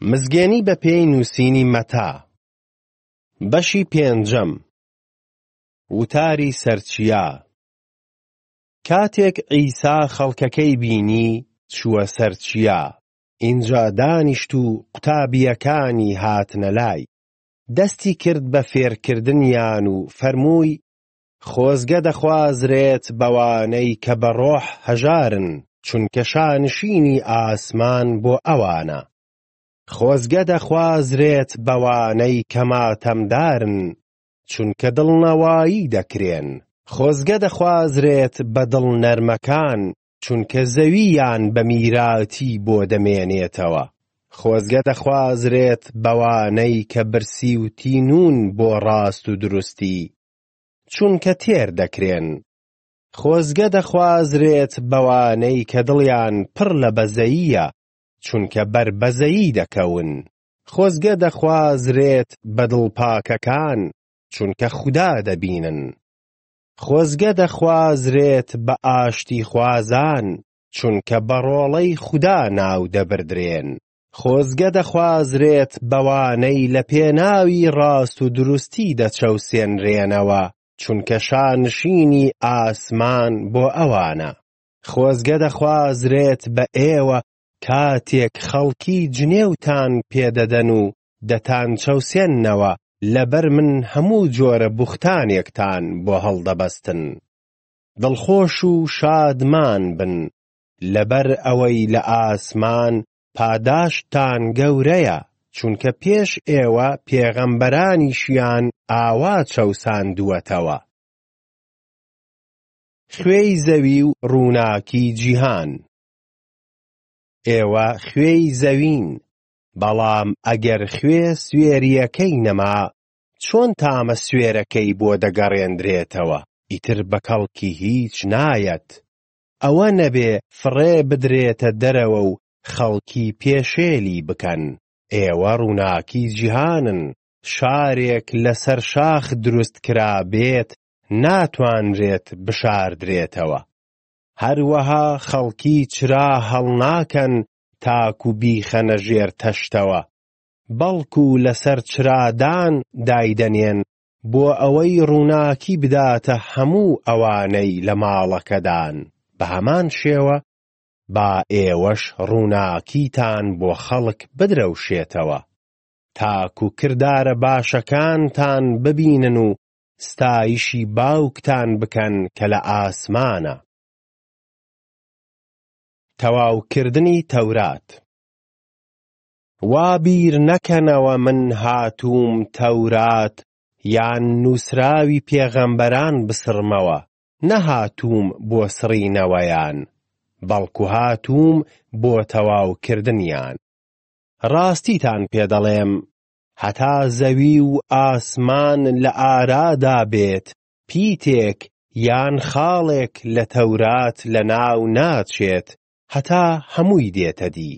مزگێنی بە پێی نووسینی مەتا بەشی پێنجەم وتاری سەرچیا کاتێک عیسا خەڵکەکەی بینی چووە سەرچیا ئینجا دانیشت و قوتابیەکانی هاتنە لای دەستی کرد بە فێرکردنیان و فەرمووی خۆزگە دەخوازرێت بەوانەی کە بە ڕۆح هەژارن چونکە شانشینی ئاسمان بۆ ئەوانە. خۆزگە دەخوازرێت بەوانەی کە ماتەمدارن چونکە دڵنەوایی دەکرێن. خۆزگە دەخوازرێت بە دڵ نەرمەکان چونکە زەوییان بە میراتی بۆ دەمێنێتەوە. خۆزگە دەخوازرێت بەوانەی کە برسی و تینوون بۆ ڕاست و دروستی چونکە تێر دەکرێن. خۆزگە دەخوازرێت بەوانەی کە دڵیان پڕ لە بەزەییە چونکە بەر بەزەیی دەکەون. خۆزگە دەخوازرێت بە دڵ پاکەکان چونکە خودا دەبینن. خۆزگە دەخوازرێت بە ئاشتی خوازان چونکە بە ڕۆڵەی خودا ناو دەبردرێن. خۆزگە دەخوازرێت بەوانەی لە پێناوی ڕاست و دروستی دەچەوسێنرێنەوە، چونکە شانشینی ئاسمان بۆ ئەوانە. خۆزگە دەخوازرێت بە ئێوە کاتێک خەڵکی جنێوتان پێ دەدەن و دەتانچەوسێننەوە، لەبەر من هەموو جۆرە بوختانێکتان بۆ هەڵدەبەستن. دڵخۆش و شادمان بن، لەبەر ئەوەی لە ئاسمان پاداشتتان گەورەیە، چونکە پێش ئێوە پێغەمبەرانیشیان ئاوا چەوساندووەتەوە. خوێی زەوی و ڕووناکی جیهان. ئێوە خوێی زەوین، بەڵام ئەگەر خوێ سوێرییەکەی نەما، چۆن تامە سوێرەکەی بۆ دەگەڕێندرێتەوە؟ ئیتر بە کەڵکی هیچ نایەت، ئەوە نەبێ فڕێ بدرێتە دەرەوە و خەڵکی پێشێلی بکەن. ئێوە ڕووناکی جیهانن، شارێک لەسەر شاخ دروست کرابێت ناتوانرێت بشاردرێتەوە. هەروەها خەڵکی چرا هەڵناکەن تاکو بیخەنە ژێر تەشتەوە، بەڵکو لەسەر چرادان دایدەنێن بۆ ئەوەی ڕووناکی بداتە هەموو ئەوانەی لە ماڵەکەدان، بە هەمان شێوە با ئێوەش ڕووناکیتان بۆ خەڵک بدرەوشێتەوە، تاکو کردارە باشەکانتان ببینن و ستایشی باوکتان بکەن کە لە ئاسمانە. تەواوکردنی تەورات. وا بیر نەکەنەوە من هاتووم تەورات یان نووسراوی پێغەمبەران بسڕمەوە، نەهاتووم بۆ سڕینەوەیان، بەڵکو هاتووم بۆ تەواوکردنیان. ڕاستیتان پێ دەڵێم، هەتا زەوی و ئاسمان لە ئارادا بێت، پیتێک یان خاڵێک لە تەورات لەناو ناچێت هەتا هەمووی دێتەدی.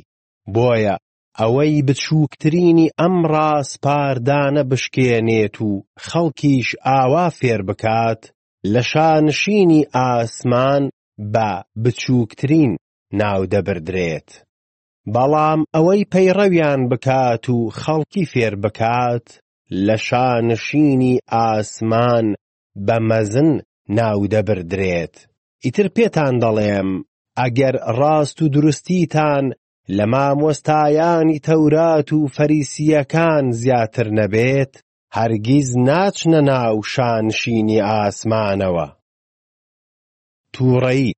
بۆیە ئەوەی بچووکترینی ئەم ڕاسپاردانە بشکێنێت و خەڵکیش ئاوا فێر بکات لە شانشینی ئاسمان بە بچووکترین ناو دەبردرێت، بەڵام ئەوەی پەیڕەویان بکات و خەڵکی فێر بکات لە شانشینی ئاسمان بە مەزن ناو دەبردرێت. ئیتر پێتان دەڵێم ئەگەر ڕاست و دروستیتان لە مامۆستایانی تەورات و فەریسییەکان زیاتر نەبێت، هەرگیز ناچنە ناو شانشینی ئاسمانەوە. تووڕەیی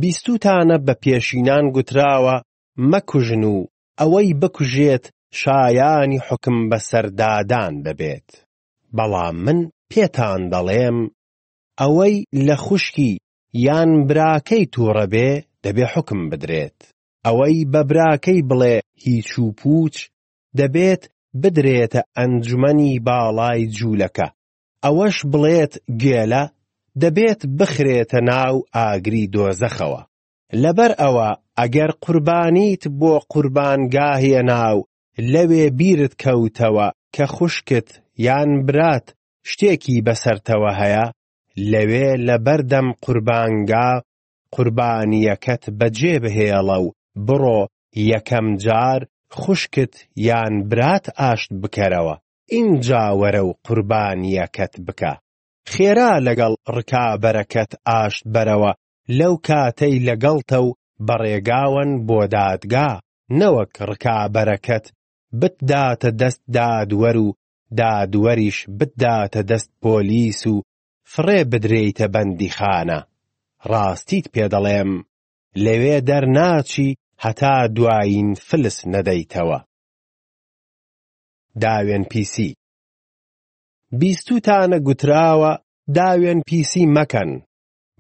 بیستووتانە بە پێشینان گوتراوە مەکوژن و ئەوەی بکوژێت شایانی حوکم بەسەردادان دەبێت، بەڵام من پێتان دەڵێم ئەوەی لە خوشکی یان براکەی توڕە بێ دەبێ حوکم بدرێت، ئەوەی بە براکەی بڵێ هیچ و پووچ دەبێت بدرێتە ئەنجومەنی باڵای جوولەکە، ئەوەش بڵێت گێلە دەبێت بخرێتە ناو ئاگری دۆزەخەوە. لەبەر ئەوە ئەگەر قوربانیت بۆ قوربانگا هێنا و لەوێ بیرت کەوتەوە کە خوشکت یان برات شتێکی بەسەرتەوە هەیە لەوێ لەبەردەم قوربانگا قوربانییەکەت بەجێبهێڵە و بڕۆ یەکەم جار خوشکت یان برات ئاشت بکەرەوە، ئینجا وەرە و قوربانییەکەت بکە. خێرا لەگەڵ ڕکابەرەکەت ئاشت بەرەوە لەو کاتەی لەگەڵتە و بە ڕێگاوەن بۆ دادگا، نەوەک ڕکابەرەکەت بتداتە دەست دادوەر و دادوەریش بتداتە دەست پۆلیس و فڕێ بدرێیتە بەندیخانە، ڕاستیت پێ دەڵێم لەوێ دەرناچی هەتا دوایین فلس نەدەیتەوە. داوێنپیسی بیستوتانە گوتراوە داوێنپیسی مەکەن،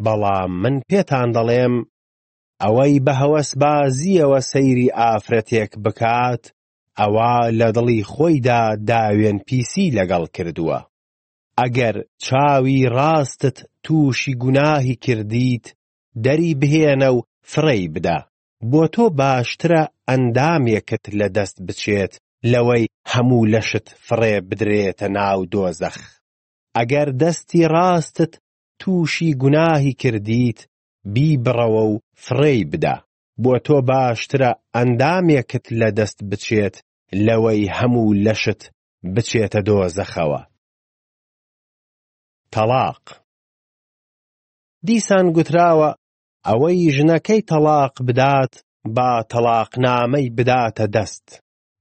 بەڵام من پێتان دەڵێم ئەوەی بە هەوەسبازییەوە سەیری ئافرەتێک بکات ئەوا لە دڵی خۆیدا داوێن پیسی لەگەڵ کردووە. ئەگەر چاوی ڕاستت تووشی گوناهی کردیت دەری بهێنە و فڕێی بدە، بۆ تۆ باشترە ئەندامێکت لە دەست بچێت لەوەی هەموو لەشت فڕێ بدرێتە ناو دۆزەخ. ئەگەر دەستی ڕاستت تووشی گوناهی کردیت بیبڕەوە و فڕێی بدە، بۆ تۆ باشترە ئەندامێکت لە دەست بچێت لەوەی هەموو لەشت بچێتە دۆزەخەوە. تەڵاق. دیسان گوتراوە ئەوەی ژنەکەی تەڵاق بدات با تەڵاقنامەی بداتە دەست،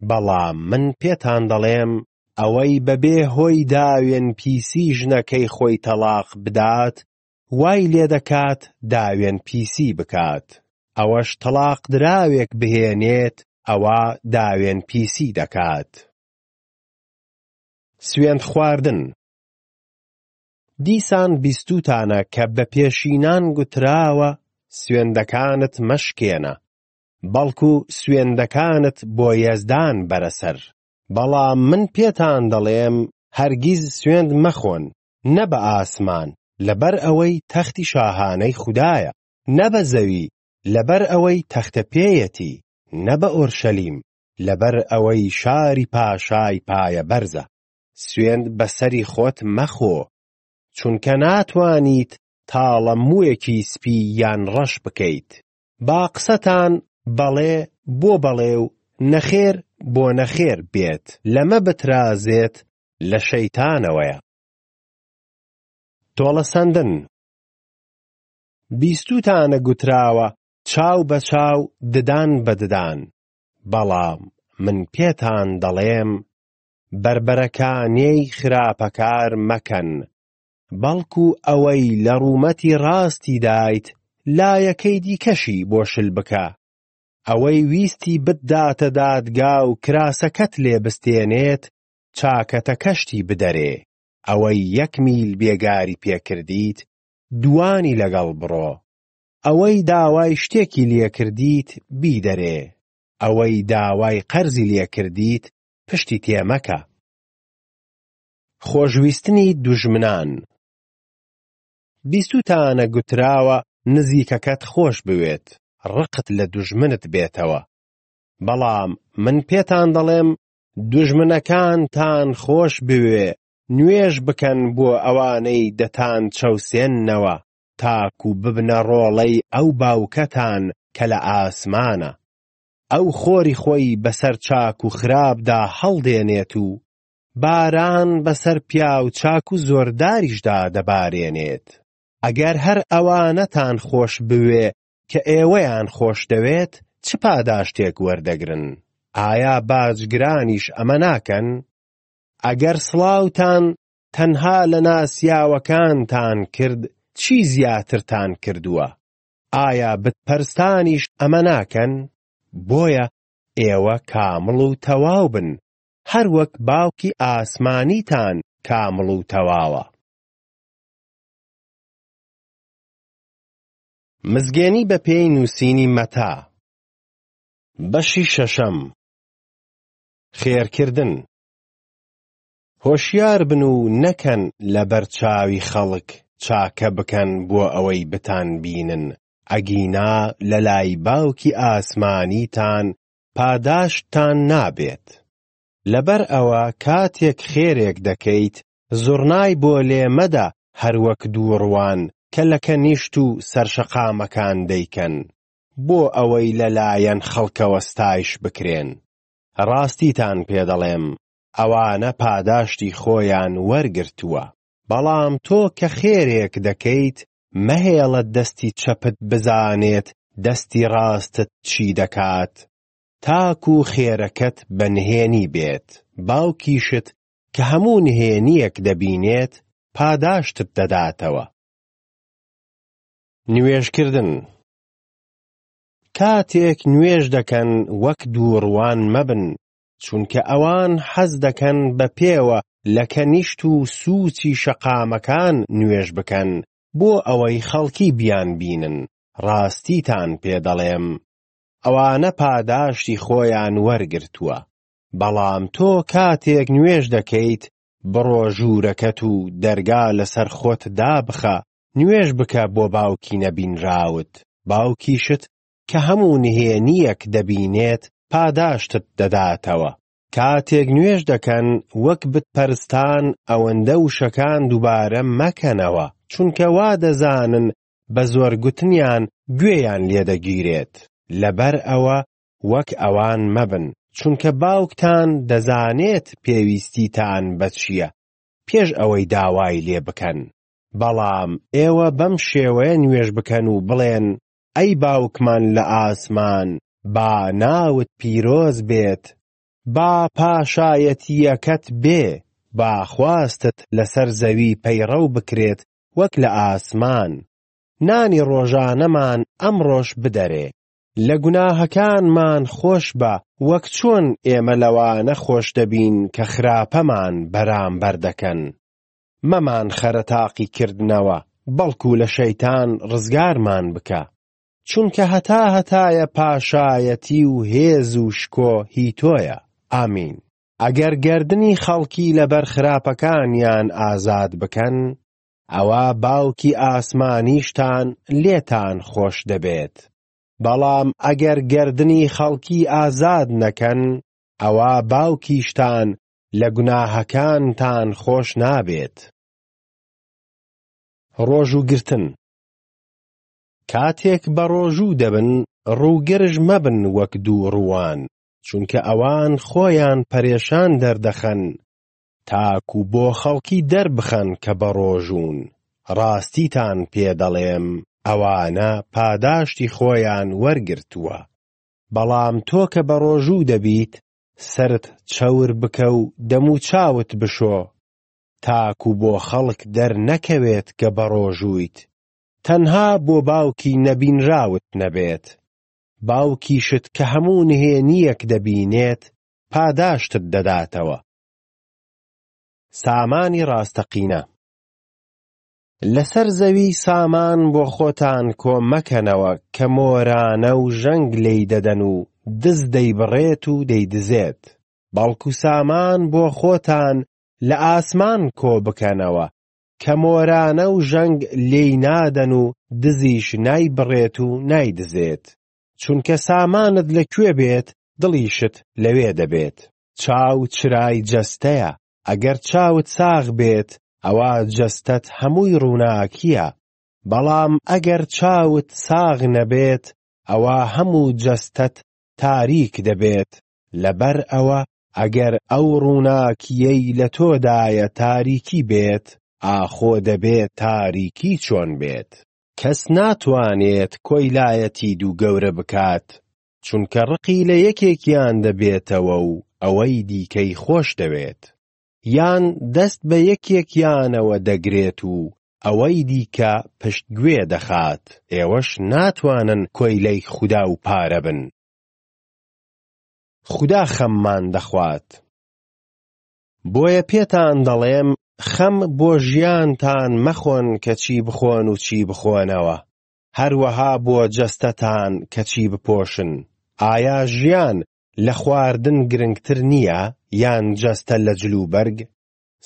بەڵام من پێتان دەڵێم ئەوەی بەبێ هۆی داوێن پیسی ژنەکەی خۆی تەڵاق بدات وای لێدەکات داوێن پیسی بکات ئەوەش تەڵاق دراوێک بهێنێت ئەوا داوێن پیسی دەکات. سوێند خواردن دیسان بیستوتانە کە بە پێشینان گوتراوە سوێندەکانت مەشکێنە بەڵکو سوێندەکانت بۆ یەزدان بەرەسەر بەڵام من پێتان دەڵێم هەرگیز سوێند مەخۆن نە بە ئاسمان لەبەر ئەوەی تەختی شاهانەی خودایە، نە بە زەوی لەبەر ئەوەی تەختە پێیەتی، نە بە ئۆرشەلیم لەبەر ئەوەی شاری پاشای پایەبەرزە. سوێند بە سەری خۆت مەخۆ، چونکە ناتوانیت تاڵە مووێکی سپی یان ڕەش بکەیت. با قسەتان بەڵێ بۆ بەڵێ و نەخێر بۆ نەخێر بێت، لەمە بترازێت لە شەیتانەوەیە. تۆڵەسەندن بیستوتانە گوتراوە چاو بە چاو ددان بە ددان بەڵام من پێتان دەڵێم بەربەرەکانێی خراپەکار مەکەن بەڵکو ئەوەی لە ڕوومەتی ڕاستی دایت لایەکەی دیکەشی بۆ شل بکە ئەوەی ویستی بتداتە دادگا و کراسەکەت لێ بستێنێت چاکەتەکەشتی بدەرێ، ئەوەی یەک میل بێگاری پێ کردیت دووانی لەگەڵ بڕۆ، ئەوەی داوای شتێکی لێ کردیت بیدەرێ، ئەوەی داوای قەرزی لێ کردیت پشتی تێ مەکە. خۆشویستنی دوژمنان بیستوتانە گوتراوە نزیکەکەت خۆش بوێت، ڕقت لە دوژمنت بێتەوە، بەڵام من پێتان دەڵێم دوژمنەکانتان خۆش بوێ نوێژ بکەن بۆ ئەوانەی دەتان چەوسێننەوە تاکو ببنە ڕۆڵەی ئەو باوکەتان کە لە ئاسمانە ئەو خۆری خۆی بەسەر چاک و خراپدا هەڵدێنێت و باران بەسەر پیاو چاک و زۆرداریشدا دەبارێنێت ئەگەر هەر ئەوانەتان خۆش بوێ کە ئێوەیان خۆشدەوێت چ پاداشتێک وەردەگرن؟ ئایا باجگرانیش ئەمە ناکەن؟ ئەگەر سڵاوتان تەنها لە ناسیاوەکانتان کرد چی زیاترتان کردووە؟ ئایا بتپەرستانیش ئەمە ناکەن؟ بۆیە ئێوە کامڵ و تەواو بن، هەروەک باوکی ئاسمانیتان کامڵ و تەواوە. مزگێنی بە پێی نووسینی مەتا. بەشی شەشەم خێرکردن هۆشیار بن و نەکەن لەبەر چاوی خەڵک چاکە بکەن بۆ ئەوەی بتانبینن، ئەگینا لەلای باوکی ئاسمانیتان پاداشتتان نابێت. لەبەر ئەوە کاتێک خێرێک دەکەیت زوڕنای بۆ لێ مەدە هەر وەک دووڕووان کە لە کەنیشت و سەرشەقامەکان دەیکەن بۆ ئەوەی لە لایەن خەڵکەوە ستایش بکرێن. ڕاستیتان پێ دەڵێم ئەوانە پاداشتی خۆیان وەرگرتووە. بەڵام تۆ کە خێرێک دەکەیت مەهێڵە دەستی چەپت بزانێت دەستی ڕاستت چی دەکات تاکوو خێرەکەت بە نهێنی بێت باوکیشت کە هەموو نهێنییەک دەبینێت پاداشتت دەداتەوە. نوێژکردن کاتێک نوێژ دەکەن وەک دووڕوان مەبن، چونکە ئەوان حەز دەکەن بە پێوە لە کەنیشت و سووچی شەقامەکان نوێژ بکەن بۆ ئەوەی خەڵکی بیانبینن، ڕاستیتان پێ دەڵێم ئەوانە پاداشتی خۆیان وەرگرتووە. بەڵام تۆ کاتێک نوێژ دەکەیت بڕۆ ژوورەکەت و دەرگا لەسەر خۆت دابخە، نوێژ بکە بۆ باوکی نەبینراوت، باوکیشت کە هەموو نهێنییەک دەبینێت پاداشتت دەداتەوە. کاتێک نوێژ دەکەن وەک بتپەرستان ئەوەندە وشەکان دووبارە مەکەنەوە، چونکە وا دەزانن بە زۆر گوتنیان گوێیان لێدەگیرێت، لەبەر ئەوە وەک ئەوان مەبن، چونکە باوکتان دەزانێت پێویستیتان بە چییە پێش ئەوەی داوای لێ بکەن، بەڵام ئێوە بەم شێوەیە نوێژ بکەن و بڵێن، ئەی باوکمان لە ئاسمان، با ناوت پیرۆز بێت، با پاشایەتییەکەت بێ، با خواستت لەسەر زەوی پەیڕەو بکرێت وەک لە ئاسمان، نانی ڕۆژانەمان ئەمڕۆش بدەرێ، لە گوناهەکانمان خۆش بە وەک چۆن ئێمە لەوانە خۆش دەبین کە خراپەمان بەرامبەر دەکەن مەمان خەرە تاقی کردنەوە بەڵکو لە شەیتان ڕزگارمان بکە چونکە هەتا هەتایە پاشایەتی و هێز و شکۆ هی تۆیە ئامین ئەگەر گەردنی خەڵکی لەبەر خراپەکانیان ئازاد بکەن ئەوا باوکی ئاسمانیشتان لێتان خۆش دەبێت، بەڵام ئەگەر گەردنی خەڵکی ئازاد نەکەن، ئەوا باوکیشتان لە گوناهەکانتان خۆش نابێت. ڕۆژوو گرتن کاتێک بەڕۆژوو دەبن ڕووگرژ مەبن وەک دووڕووان، چونکە ئەوان خۆیان پەرێشان دەردەخەن، تاکو بۆ خەڵکی دەربخەن کە بەڕۆژوون، ڕاستیتان پێ دەڵێم ئەوانە پاداشتی خۆیان وەرگرتووە. بەڵام تۆ کە بەڕۆژوو دەبیت سەرت چەور بکە و دەموچاوت بشۆ تاکو بۆ خەڵک دەرنەکەوێت کە بەڕۆژوویت، تەنها بۆ باوکی نەبینراوت نەبێت، باوکیشت کە هەموو نهێنییەک دەبینێت پاداشتت دەداتەوە. سامانی ڕاستەقینە لەسەر زەوی سامان بۆ خۆتان کۆ مەکەنەوە کە مۆرانە و ژەنگ لێی دەدەن و دز دەیبڕێت و دەیدزێت، بەڵکو سامان بۆ خۆتان لە ئاسمان کۆ بکەنەوە کە مۆرانە و ژەنگ لێی نادەن و دزیش نایبڕێت و نایدزێت، چونکە سامانت لە کوێ بێت دڵیشت لەوێ دەبێت. چاو چرای جەستەیە، ئەگەر چاوت ساغ بێت ئەوا جەستەت هەمووی ڕووناکییە، بەڵام ئەگەر چاوت ساغ نەبێت ئەوا هەموو جەستەت تاریک دەبێت، لەبەر ئەوە ئەگەر ئەو ڕووناکییەی لە تۆدایە تاریکی بێت، ئاخۆ دەبێ تاریکی چۆن بێت؟ کەس ناتوانێت کۆیلایەتی دوو گەورە بکات، چونکە ڕقی لە یەکێکیان دەبێتەوە و ئەوەی دیکەی خۆش دەوێت، یان دەست بە یەکێکیانەوە دەگرێت و ئەوەی دیکە پشت گوێ دەخات، ئێوەش ناتوانن کۆیلەی خودا و پارە بن. خودا خەممان دەخوات. بۆیە پێتان دەڵێم خەم بۆ ژیانتان مەخۆن کە چی بخۆن و چی بخۆنەوە، هەروەها بۆ جەستەتان کە چی بپۆشن، ئایا ژیان لە خواردن گرنگتر نییە یان جەستە لە جلوبەرگ؟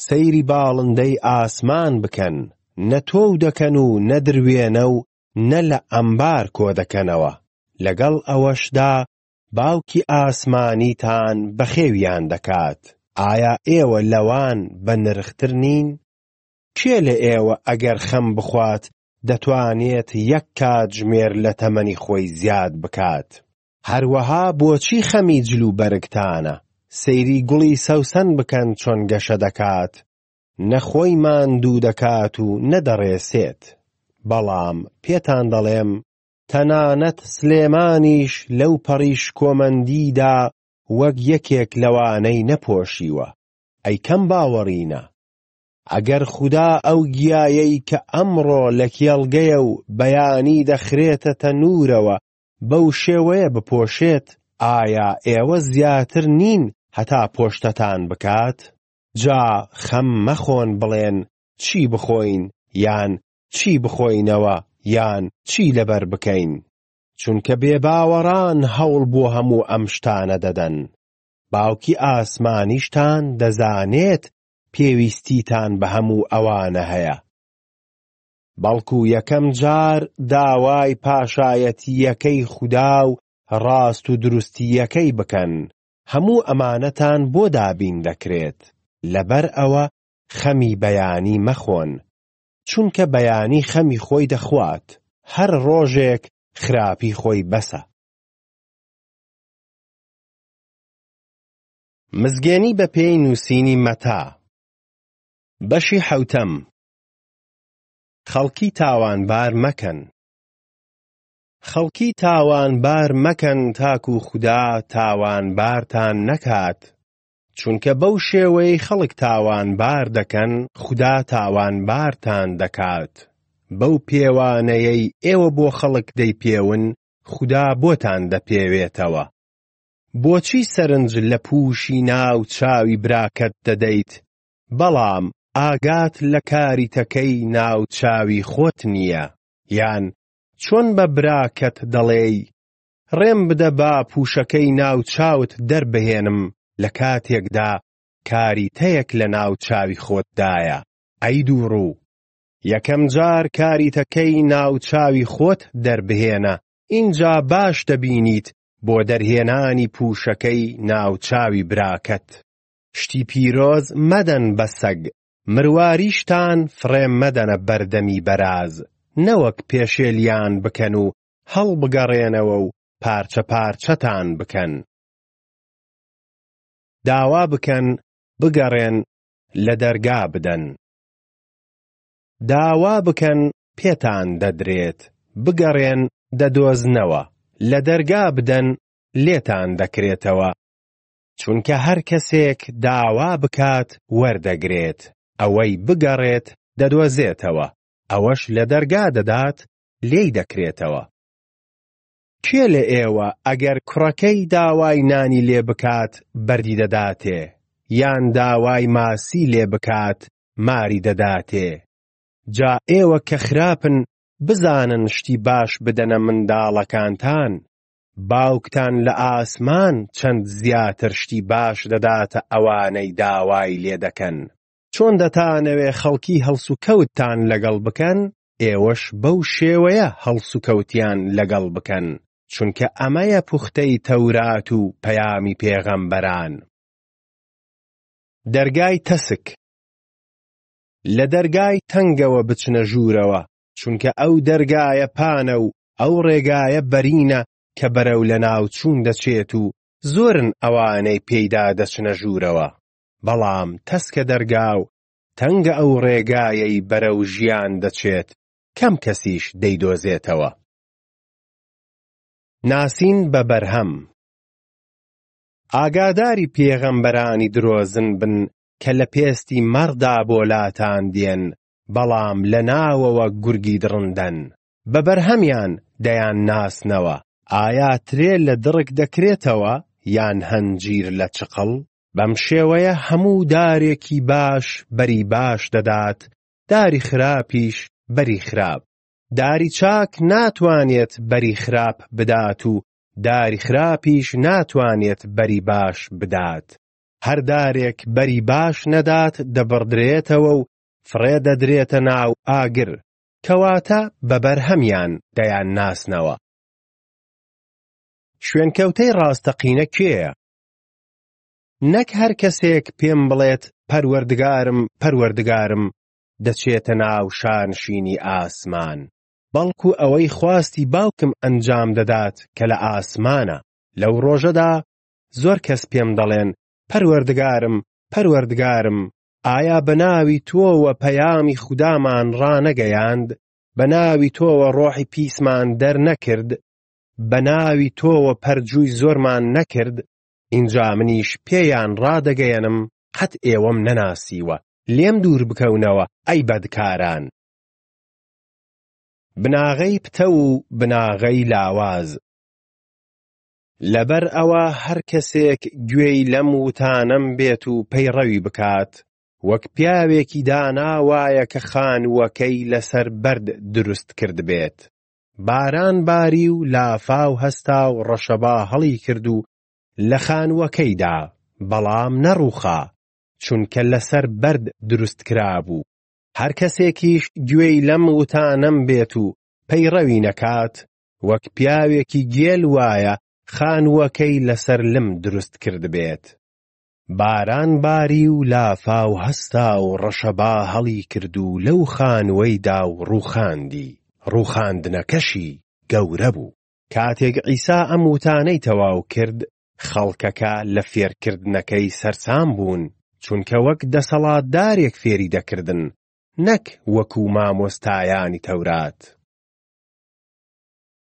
سەیری باڵندەی ئاسمان بکەن، نە تۆو دەکەن و نە دروێنە و نە لە ئەمبار کۆدەکەنەوە، لەگەڵ ئەوەشدا باوکی ئاسمانیتان بەخێویان دەکات، ئایا ئێوە لەوان بەنرختر نین؟ کێ لە ئێوە ئەگەر خەم بخوات دەتوانێت یەک کاتژمێر لە تەمەنی خۆی زیاد بکات. هەروەها بۆچی خەمی جل و بەرگتانە؟ سەیری گوڵی سەوسەن بکەن چۆن گەشە دەکات، نە خۆی ماندوو دەکات و نە دەڕێسێت، بەڵام پێتان دەڵێم، تەنانەت سلێمانیش لەو پەڕی شکۆمەندیدا وەک یەکێک لەوانەی نەپۆشیوە، ئەی کەم باوەڕینە؟ ئەگەر خودا ئەو گیایەی کە ئەمڕۆ لە کێڵگەیە و بەیانی دەخرێتە تەنوورەوە بەو شێوەیە بپۆشێت، ئایا ئێوە زیاتر نین هەتا پۆشتتان بکات؟ جا خەم مەخۆن بڵێن چی بخۆین یان چی بخۆینەوە یان چی لەبەر بکەین، چونکە بێباوەڕان هەوڵ بۆ هەموو ئەم شتانە دەدەن، باوکی ئاسمانیشتان دەزانێت پێویستیتان بە هەموو ئەوانە هەیە، بەڵکو یەکەم جار داوای پاشایەتییەکەی خودا و ڕاست و دروستییەکەی بکەن، هەموو ئەمانەتان بۆ دابین دەکرێت، لەبەر ئەوە خەمی بەیانی مەخۆن، چونکە بەیانی خەمی خۆی دەخوات، هەر ڕۆژێک خراپی خۆی بەسە. مزگێنی بە پێی نووسینی مەتا. بەشی حەوتەم. خەڵکی تاوانبار مەکەن. خەڵکی تاوانبار مەکەن تاکو خودا تاوانبارتان نەکات، چونکە بەو شێوەیەی خەڵک تاوانبار دەکەن خودا تاوانبارتان دەکات، بەو پێوانەیەی ئێوە بۆ خەڵک دەیپێون خودا بۆتان دەپێوێتەوە. بۆچی سەرنج لە پووشی ناو چاوی براکەت دەدەیت بەڵام ئاگات لە کاریتەکەی ناو چاوی خۆت نییە یان چۆن بە براکەت دەڵێی ڕێم بدە با پووشەکەی ناو چاوت دەربهێنم لە کاتێکدا کاریتەیەک لە ناو چاوی خۆتدایە ئەی دووڕوو یەکەم جار کاریتەکەی ناو چاوی خۆت دەربهێنە ئینجا باش دەبینیت بۆ دەرهێنانی پووشەکەی ناوچاوی براکەت. شتی پیرۆز مەدەن بە سەگ مرواریشتان فڕێ مەدەنە بەردەمی بەراز، نەوەک پێشێلیان بکەن و هەڵبگەڕێنەوە و پارچە پارچەتان بکەن. داوا بکەن بگەڕێن لە دەرگا بدەن. داوا بکەن پێتان دەدرێت بگەڕێن دەدۆزنەوە لە دەرگا بدەن لێتان دەکرێتەوە چونکە هەر کەسێک داوا بکات وەردەگرێت ئەوەی بگەڕێت دەدۆزێتەوە ئەوەش لە دەرگا دەدات لێی دەکرێتەوە کێ لە ئێوە ئەگەر کوڕەکەی داوای نانی لێ بکات بەردی دەداتێ یان داوای ماسی لێ بکات ماری دەداتێ. جا ئێوە کە خراپن بزانن شتی باش بدەنە منداڵەکانتان، باوکتان لە ئاسمان چەند زیاتر شتی باش دەداتە ئەوانەی داوای لێ دەکەن. چۆن دەتانەوێ خەڵکی هەڵسوکەوتتان لەگەڵ بکەن، ئێوەش بەو شێوەیە هەڵسوکەوتیان لەگەڵ بکەن، چونکە ئەمەیە پوختەی تەورات و پەیامی پێغەمبەران. دەرگای تەسک لە دەرگای تەنگەوە بچنە ژوورەوە چونکە ئەو دەرگایە پانە و ئەو ڕێگایە بەرینە کە بەرەو لە ناوچوون دەچێت و زۆرن ئەوانەی پێیدا دەچنە ژوورەوە بەڵام تەسکە دەرگا و تەنگە ئەو ڕێگایەی بەرەو ژیان دەچێت کەم کەسیش دەیدۆزێتەوە ناسین بە بەرهەم ئاگاداری پێغەمبەرانی درۆزن بن کە لە پێستی مەڕدا بۆ لاتان دێن، بەڵام لە ناوەوە گورگی دڕندەن. بە بەرهەمیان دەیان ناسنەوە. ئایا ترێ لە دڕک دەکرێتەوە یان هەنجیر لە چقڵ؟ بەم شێوەیە هەموو دارێکی باش بەری باش دەدات، داری خراپیش بەری خراپ. داری چاک ناتوانێت بەری خراپ بدات و داری خراپیش ناتوانێت بەری باش بدات، هەر دارێک بەری باش نەدات دەبڕدرێتەوە و فڕێ دەدرێتە ناو ئاگر، کەواتە بە بەرهەمیان دەیانناسنەوە. شوێنکەوتەی ڕاستەقینە کێیە؟ نەک هەر کەسێک پێم بڵێت پەروەردگارم، پەروەردگارم، دەچێتە ناو شانشینی ئاسمان، بەڵکو ئەوەی خواستی باوکم ئەنجام دەدات کە لە ئاسمانە، لەو ڕۆژەدا زۆر کەس پێم دەڵێن، پەروەردگارم، پەروەردگارم، ئایا بە ناوی تۆوە پەیامی خودامان ڕانەگەیاند، بە ناوی تۆوە ڕۆحی پیسمان دەرنەکرد، بە ناوی تۆوە پەرجووی زۆرمان نەکرد، ئینجا منیش پێیان ڕادەگەیەنم، قەت ئێوەم نەناسیوە، لێم دووربکەونەوە، ئەی بەدکاران. بناغەی پتەو و بناغەی لاواز. لەبەر ئەوە هەر کەسێک گوێی لەم وتانەم بێت و پەیڕەوی بکات، وەک پیاوێکی دانا وایە کە خانووەکەی لەسەر بەرد دروست کردبێت. باران باری و لافاو هەستا و ڕەشەبا هەڵی کرد و لە خانووەکەی دا، بەڵام نەڕووخا، چونکە لەسەر بەرد دروست کرابوو. هەر کەسێکیش گوێی لەم وتانەم بێت و پەیڕەوی نەکات، وەک پیاوێکی گێل وایە خانووەکەی لەسەر لم دروست کردبێت. باران باری و لافاو هەستا و ڕەشەبا هەڵی کرد و لەو خانووەیدا و ڕووخاندی، ڕووخاندنەکەشی گەورە بوو. کاتێک عیسا ئەم وتانەی تەواو کرد، خەڵکەکە لە فێرکردنەکەی سەرسام بوون، چونکە وەک دەسەڵاتدارێک فێری دەکردن، نەک وەکو مامۆستایانی تەورات.